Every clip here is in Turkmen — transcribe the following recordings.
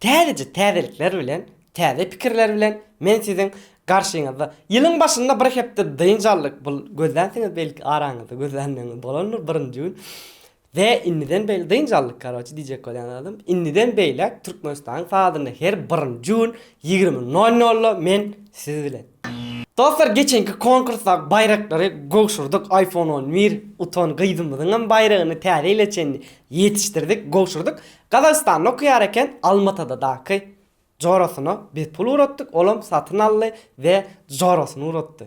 Täzeje täzelikler bilen, täze pikirler bilen men siziň garşyňyzda. Ýylyň başynda bir hepde dynç aldyk. Bul gözlänsiňiz belki araňyzda gözlänleriňiz bolandyr birinji gün. We indiden beýle dynç aldyk karoçe diýjek bolýan zadym indiden beýläk Türkmenistanyň saatynda her birinji gün ýigrimi nol nolda men siz bilen. Dostlar geçenki konkursdaky baýraklary gowşurdyk iPhone on bir utan gyzymyzyňam baýragyny täze ýyla çenli ýetişdirdik gowşurdyk Gazagystanda okaýar eken, Almatadadaky jorasyna biz pul ugratdyk, olam satyn aldy we jorasyna ugratdy.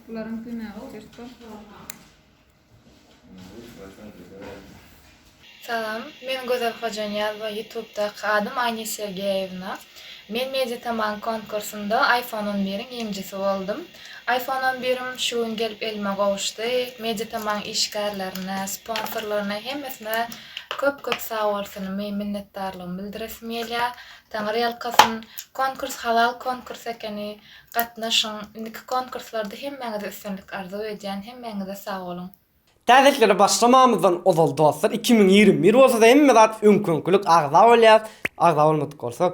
Bularyň günahy çert-ow. Salam, men Gözel Hojanyýazowa ýutubdaky adym Aýna Sergeýewna. Men Mediatamang konkursynda iPhone on biriň ýeňijisi boldum. iPhone on birim şu gün gelip elime gowuşdy. Mediatamang işgärlerine, sponsorlaryna hemmesine köp-köp sagbolsunymy, minnetdarlygymy bildiresim gelýär. Taňry ýalkasyn. Konkurs halal konkurs ekeni. Gatnaşyň. Indiki konkurslarda hemmäňize üstünlik arzuw edýän. Hemmäňize sag boluň. Täzelikleri başlamamyzdan ozal dostlar iki müň ýigrimi bir bolsada hemme zat öňki öňkilik agza bolýas agza bolmadyk bolsak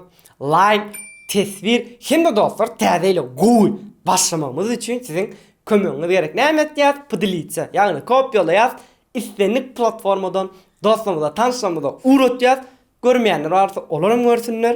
laýk teswir hemde dostlar täze ýyla gowy başlamagymyz üçin siziň kömegiňiz gerek näme etýäs pdlitsa ýagny kopýalaýas islendik platformadan dostlarymyza tanşlarymyza ugratýas görmeýänler barsa olar hem görsünler.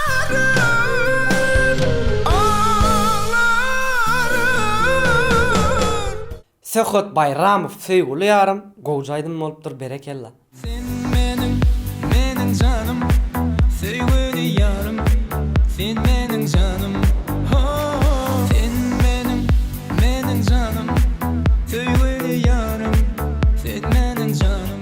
Söhbet Baýramow söýgüli ýarym gowja aýdym bolupdyr berekella. Sen meniň meniň janym söýgüli ýarym sen meniň janym ho sen meniň meniň janym söýgüli ýarym sen meniň janym.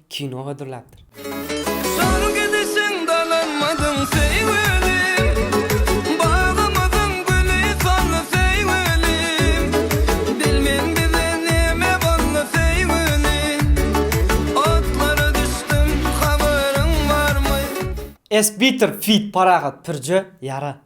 Kino hazırlapdyr. Soň gidişiň dalanmadyň seý welim, Bagymyzyň güli soldy seý welim, Bilmen bize neme boldy seý welim, Otlara düşdüm habaryň barmy? Esbitir feat Parahat Pürje ýara.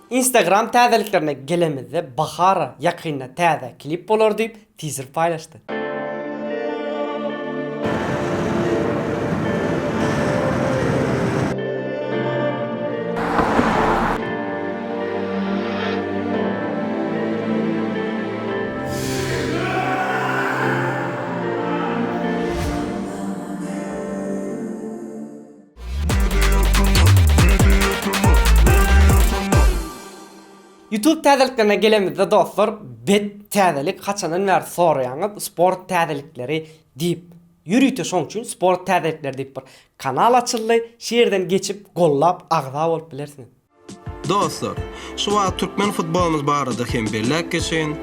Instagram täzeliklerine gelemizde Bahara ýakynda täze klip bolar diýip tizer paýlaşdy. Youtube täzeliklerine gelemizde dostlar bet täzelik haçandan bäri soraýaňyz sport täzelikleri diýip. Ýörite şoň üçin sport täzelikleri diýip bir kanal açyldy. Şu ýerden geçip gollap agza bolup bilersiňiz. Dostlar, şu wagt türkmen futbolymyz barada hem belläp geçeýin.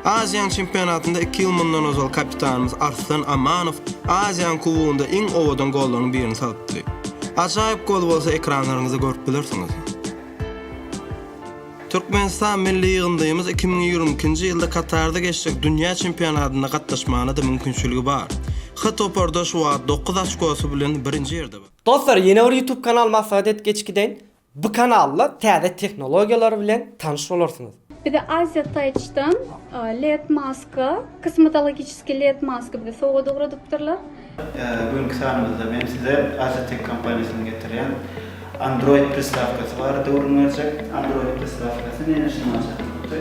Aziýanyň çempionatynda iki ýyl mundan ozal kapitanymyz Arslan Amanow Aziýanyň kubogynda iň owadan gollaryň birini salpdy. Ajaýyp gol bolsa ekranlaryňyzda görüp bilersiňiz. Türkmenistan milli ýygyndymyz iki müň ýigrimi ikinji ýylda Katarda geçjek dünýä çempionatynda gatnaşmagyna-da mümkinçiligi bar. H toparda şu wagt dokuz açkosy bilen birinji ýerde bar. Dostlar ýene bir ýutub kanal maslahat edip geçip gideýin. Bu kanalda täze tehnologiýalar bilen tanyş bolarsyňyz. Bize Asia Touch'dan led maska, kosmetologiçeskiý led maska bize sowgat ugradypdyrlar. Bu günki sanymyzda men size Asia Tech kompaniýasynyň getirýän Android pristawkasy barada gürrüň berjek. Android pristawkasy näme üçin maslahatlydy?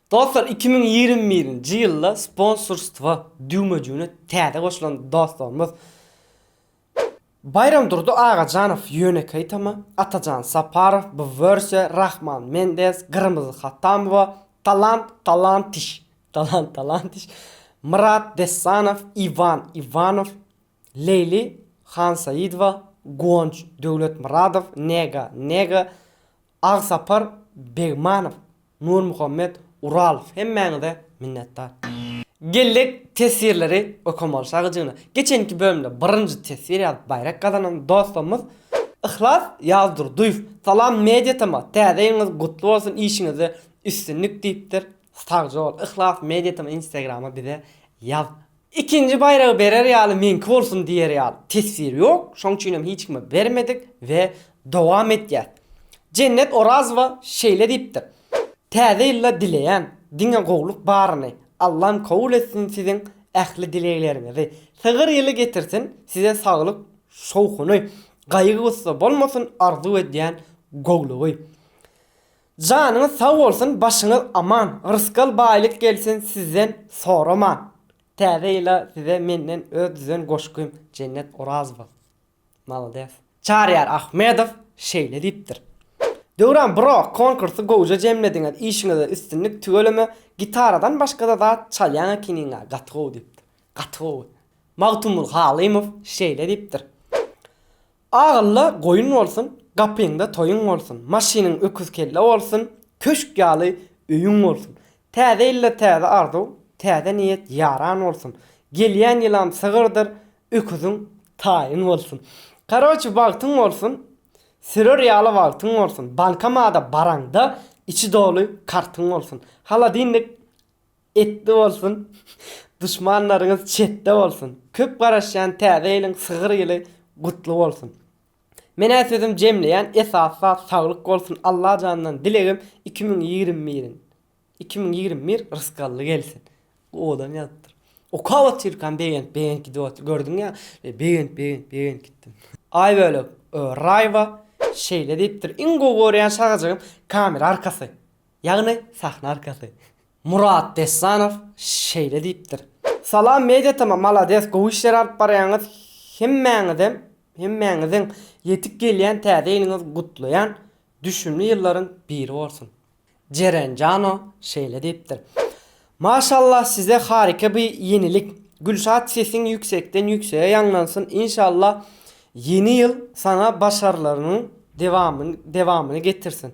Dostlar iki müň ýigrimi birinji ýylda sponsorstwa düwmejigine täze goşulan dostlarymyz Baýramdurdy Agajanow Ýönekeý tama Atajan Saparow bu wersiýa Rahman Mendez Gyrmyzy Hatamowa Talant Talantiş Talant Talantiş Myrat Dessanow Iwan Iwanow Leýli Hansaýydowa Guwanç Döwletmyradow Nega Nega Agsapar Begmanow, Nurmuhammet Uralow hemmäňize minnetdar. Geljek teswirleri okomalşagyjyna geçenki bölümde birinji teswir ýazyp baýrak gazanan dostumyz Yhlas Ýazdurdyýew Salam Media TM täze ýylyňyz gutly bolsun işiňizde üstünlik diýipdir Sagjabol Yhlas Media TM Instagrama bize ýaz Ikinji baýragy berer ýaly meňki bolsun diýer ýaly teswir ýok, şoň üçinem hiç kime bermedik we dowam etýäs. Jennet Orazowa şeýle diýipdir, Täze ýylda dileýän diňe gowluk baryny, Allam kabul etsin siziň ähli dilegleriňizi, sygyr ýyly getirsin, size saglyk şowhuny, gaýgy-gussa bolmasyn arzuw edýän gowlugy. Janyňyz sag bolsun başyňyz aman rysgal baýlyk gelsin sizden soraman täze ýyla size menden öz düzen goşgym Jennet Orazowa malades. Çaryýar Ahmedow şeýle diýipdir. Döwran bro konkursy gowja jemlediňiz işiňizde üstünlik tüweleme gitaradan başgada zat çalýaň ekeniňa gaty gowy diýipdir. Gaty gowy. Magtymgul Halymow şeýle diýipdir. Agylla goýun bolsun, gapyňda toýuň bolsun, maşynyň öküz kelle bolsun, köşk ýaly öýüň bolsun. Täze ýylda täze arzuw, täze niýet ýaran bolsun. Gelýän ýylam sygyrdyr, öküziň taýyn bolsun. Karoçi bagtyň bolsun, sürer ýaly wagtyň bolsun, bankomada baraňda içi doly kartyň bolsun. Holodinnik Etli bolsun duşmanlaryňyz çetde bolsun köp garaşýan täze ýylyň sygyr ýyly gutly bolsun menä sözüm jemleýän esasy zat saglyk bolsun Allajandan dilegim iki müň ýigrimi biriň iki müň ýigrimi bir rysgally gelsin owadan ýazypdyr okap otyrkam begenip begenip gidip otyr gördüň ýa begenip begenip begenip gitdim. Aý bölek Raýwa şeýle diýipdir iň gowy görýän şagajygym kamera arkasy. Ýagny sahna arkasy. Murat Dessanow şeýle diýipdir. Salam Media tm malades gowy işler alyp barýaňyz hemmäňizem hemmäňiziň ýetip gelýän täze ýylyňyz gutlaýan düşümli ýyllaryň biri bolsun. Jeren Jano şeýle diýipdir. Maşallah size harika by ýenilik Gülşat sesiň ýüksekden ýüksege ýaňlansyn inşallah ýeni ýyl saňa başarlaryňyň dewamyny getirsin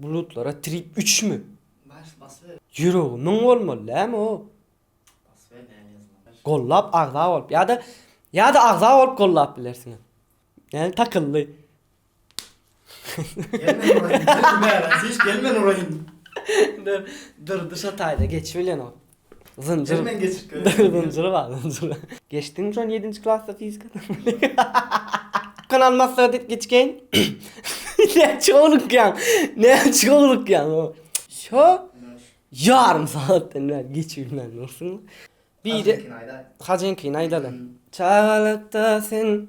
Bulutlara trip üçmi? Ýüregi müň bolmaly dämi o? Gollap agza bolup ýa-da ýa-da agza bolup gollap bilersiňiz. Näme takyldy? Gelmen uraýyn. Hiç gelmen uraýyn. Dur, dur, duşa taýda geçip bilenok. Zynjyr. Hemen geçip geliň. Zynjyry bar, zynjyry. Geçdiňmi şony ýedinji klasda fizikadan? Kanal maslahaty geçgeýin. Näçe oglukýaň? Näçe oglukýaň? Şo ýarym sagatdan bäri geçip bilmän dursuň. Biri Hajyňkyny aýdaly. Çagalykda sen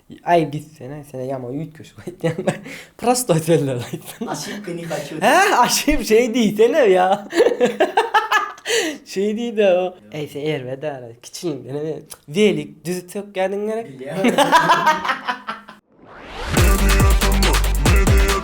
Aý gitsene sene ýaman üýtgeşik aýtýaň da prostoý sözler aýtsana. Aşypka ne haçu. Hä aşyp şeý diýsene ýa. Şeý diýde o. Äý sen erbet ara kiçiligiňden hem welik düzüp sökýädiň gerek. Bilýän.